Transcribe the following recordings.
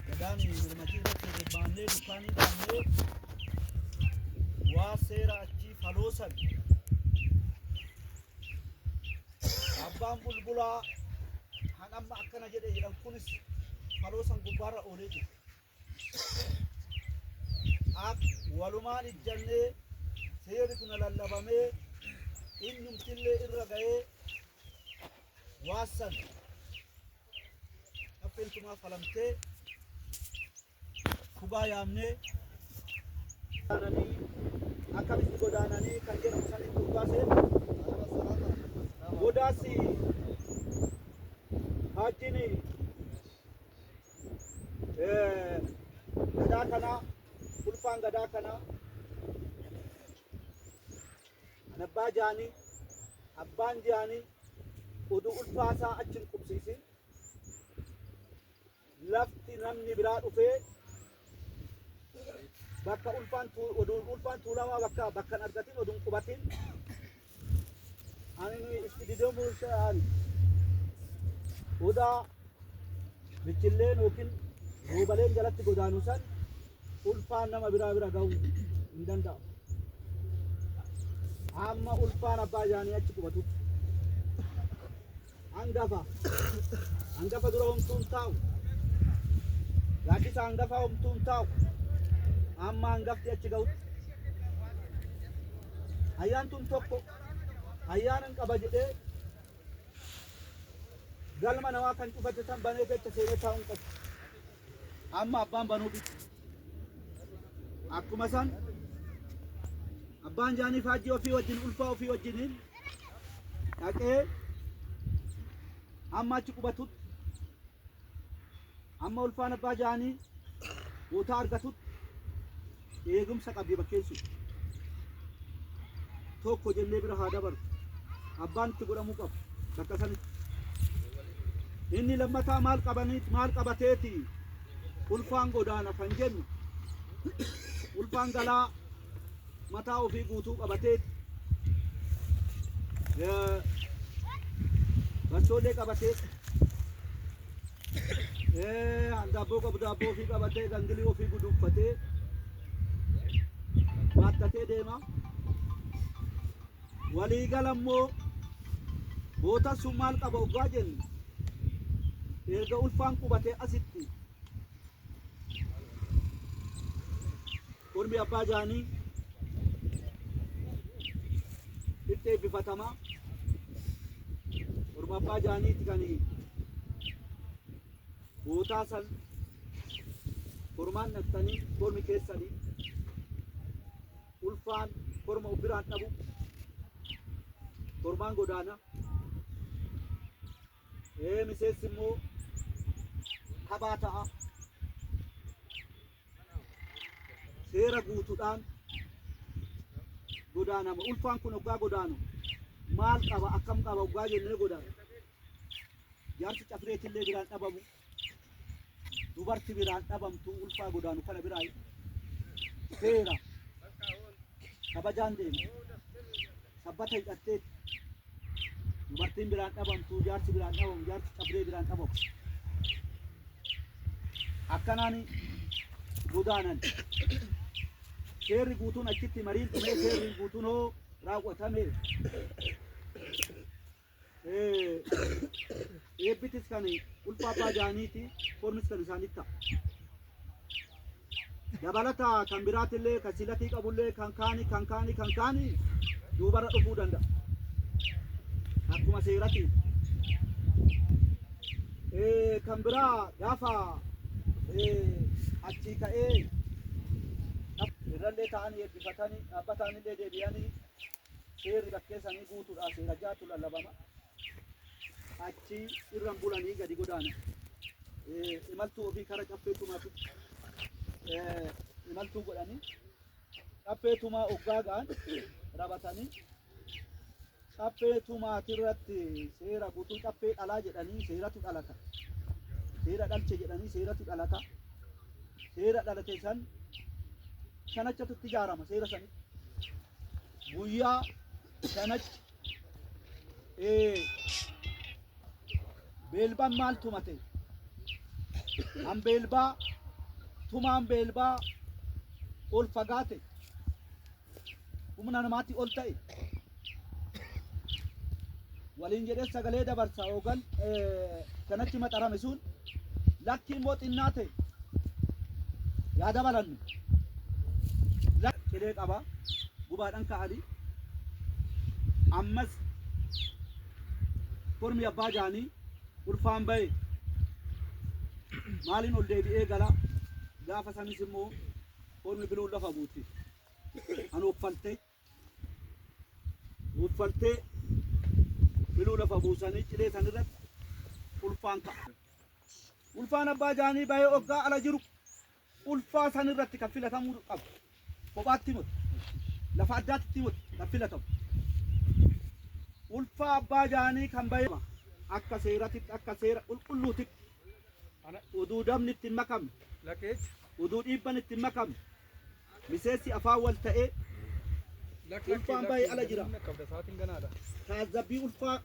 Gadaan mormatii irratti bobbaannee dukkaanii qabnee waa seera achii faloosan abbaan bulbulaa kan amma akkana jedhe jedhan kunis faloosan gubbaarra oolee jira. Ak walumaan ijjannee seerri kun lallabamee innumtillee irra ga'ee waassan Dhapheen tumaa falamtee dhugaa yaamnee akkamitti godaananii kan jedhamu saniin dhugaa seena. Godaas haajjiin gadaa kanaa ulfaan gadaa kanaa Kan abbaa jaanii abbaan jaanii udu ulfaa isaa achi hin qubsiisin lafti namni biraa dhufee bakka ulfaan tuu- oduun ulfaan tuulamaa bakka bakka hin argatin oduun qubatin ani itti didamuun ta'an odaa michilleen yookiin roobaleen jalatti godaanu san ulfaan nama biraa bira ga'uu hin danda'u. Amma ulfaan abbaa isaanii achi qubatutti. Hangafa. Hangafa dura homtuun taa'u. Gaaddisa hangafaa homtuun taa'u. Amma hangafti achi ga'utti. Ayyaantuun tokko ayyaana hin qaba jedhee Galma namaa kan cufatte san banee keessa seenee taa'uun qabu. Amma abbaan banuufi. Akkuma san abbaan jaanii faajjii ofii wajjin ulfaa ofii wajjiniin dhaqee hamma achi qubatutti amma ulfaan abbaa jaanii bootaa argatutti eegumsa qabdi bakkeen sun tokko jennee bira haa dabaru abbaan itti godhamuu qabu bakka sanitti inni lammataa maal qabaniit maal qabateeti ulfaan godaana kan jennu ulfaan galaa mataa ofii guutuu qabateeti Eh, bachoolee qabatee Eh, handaabboo qabu daabboo ofii qabatee gangilii ofii guduuffatee baattatee deema. Waliigala immoo bootan sun maal qaba oggaa jennu erga ulfaan qubatee asitti Ormi abbaa jaanii itti eebbifatama. Orma abbaa jaaniiti kan bootaa san kormaan dhaqxanii kormi keessanii ulfaan korma of biraan dhabu kormaan godaana. Ee miseensi immoo kabaa ta'a. seera guutudhaan godaanama. Ulfaan kun oggaa godaanu maal qaba akkam qaba oggaa jennee godaanu. Jaarsi cafireetillee biraan dhabamu dubarti biraan dhabamtu ulfaa godaanu kana biraa seera kabajaan deema. Sabbata hidhattee Dubartiin biraan dhabamtu, jaarsi biraan dhabamu, jaarsi cabdee biraan dhabamu. Akkanaan godaanan. Seerri guutuun achitti mariin dhumee seerri guutuun hoo raawwatame. Eh, Eebbitis kan ulfaa abbaa jaaniiti, foormis kan isaanitti ta'a. dabalata kan biraatti illee kan silatii qabu illee kan kaani kan kaani kan kaani duubarra dhufuu danda'a. Akkuma seeratiin. Eh, kan biraa gaafa eh, achii ka'ee irrallee ta'anii eebbifatanii dhaabbataan illee deebi'anii seerri bakkeessanii guutuudha seera jaatu lallabama. achi irran bulanii gadi godaanan. Eh, Imaltuu ofii kara caffee tumaatu eh, imaltuu godhanii caffee tumaa oggaa ga'an rabatanii caffee tumaati irratti seera guutuu caffee dhalaa jedhanii seeratu dhalata. Seera dhalche jedhanii seeratu dhalata. Seera dhalate san shanachatu itti ijaarama seera sanitti. guyyaa shanachi Ee, beelbaan maal tumate? An beelbaa, tumaan beelbaa ol fagaate, humna namaatii ol ta'e. Waliin jedhee sagalee dabarsa hoogan eh, kanachi maxarame sun. Lakkii immoo xinnaa ta'e yaa dabalannu. Cilee qaba gubaadhaan ka'ani ammas kormi abbaa jaanii ulfaan ba'e maaliin ol deebi'ee gala gaafa sanis immoo kormi biluun lafa guutti kan offalte Uffaltee miluu lafa buusanii cilee san irratti ulfaan ka'a. Ulfaan abbaa jaanii bahee oggaa ala jiru ulfaa san irratti kan filatamuu qabu. Kophaatti miti. Lafa addaatti miti kan filatamu. Ulfaa abbaa jaanii kan bahee akka seeratitti akka seera qulqulluutitti uduu dabni itti hin makamne uduu dhiibban itti hin makamne Miseensi afaan wal ta'ee ulfaan bahee ala jira. Taazzabbii ulfaa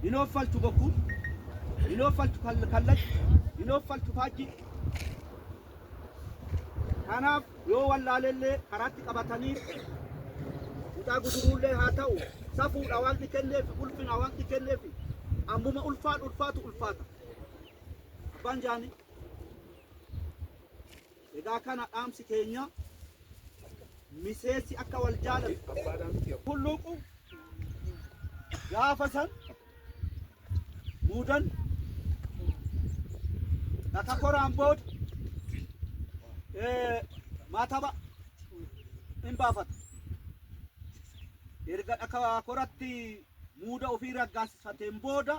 hin ooffalchu bokkuu, hin ooffalchu kal- kallachi, hin ooffalchu faajji. Kanaaf yoo wallaalellee karaatti qabatanii kutaa guduruullee haa ta'u safuudha wanti kenneef ulfina wanti kenneef ammuma ulfaan ulfaatu ulfaata. Abbaan jaanii. Egaa kana dhaamsi keenya miseessi akka wal jaalatu hulluuqu gaafa san muudan takka koraan booda eh, maataba in baafata. Erga dhaka koratti muuda ofii raggaasifateen booda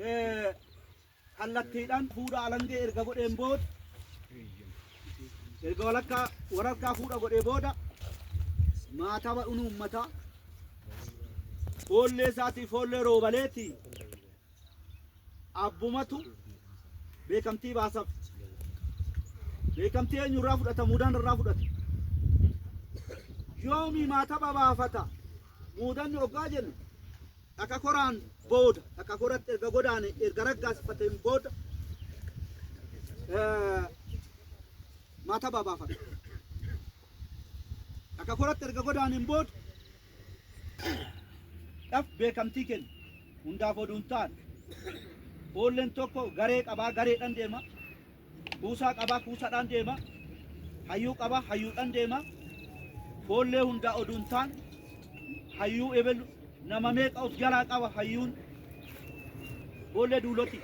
eh, kallattiidhaan fuudha alangee erga godheen booda erga walakkaa wararkaa fuudha godhee booda maataba dhunu uummataa foollee isaatii foollee roobaleeti abbumatu beekamtii baasaf beekamtii eenyurraa fudhata muudaan irraa fudhata yoomii maataba baafata muudanni oggaa jennu Akka koraan booda, akka koratti erga godaane, erga raggaasifateen booda maatabaa baafata. Akka koratti erga godaaneen booda dhaf beekamtii kenna. Hundaaf oduu hin taane. Foolleen tokko garee qabaa, gareedhaan deema. Kuusaa qabaa kuusadhaan deema. Hayyuu qabaa hayyuudhaan deema. Foollee hundaa oduu hin taan hayyuu ebelu nama meeqa of jalaa qaba hayyuun foollee duuloti.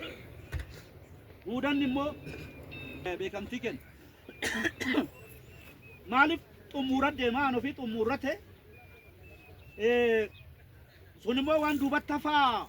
Muudanni immoo beekamtii kenna. Maaliif xummuura deema aan ofii xummuurra ta'e sun immoo waan duubatti hafaa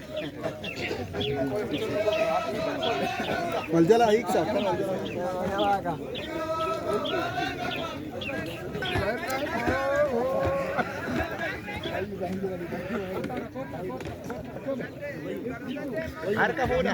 Wal jalaa hiiksa. Harka fuudha.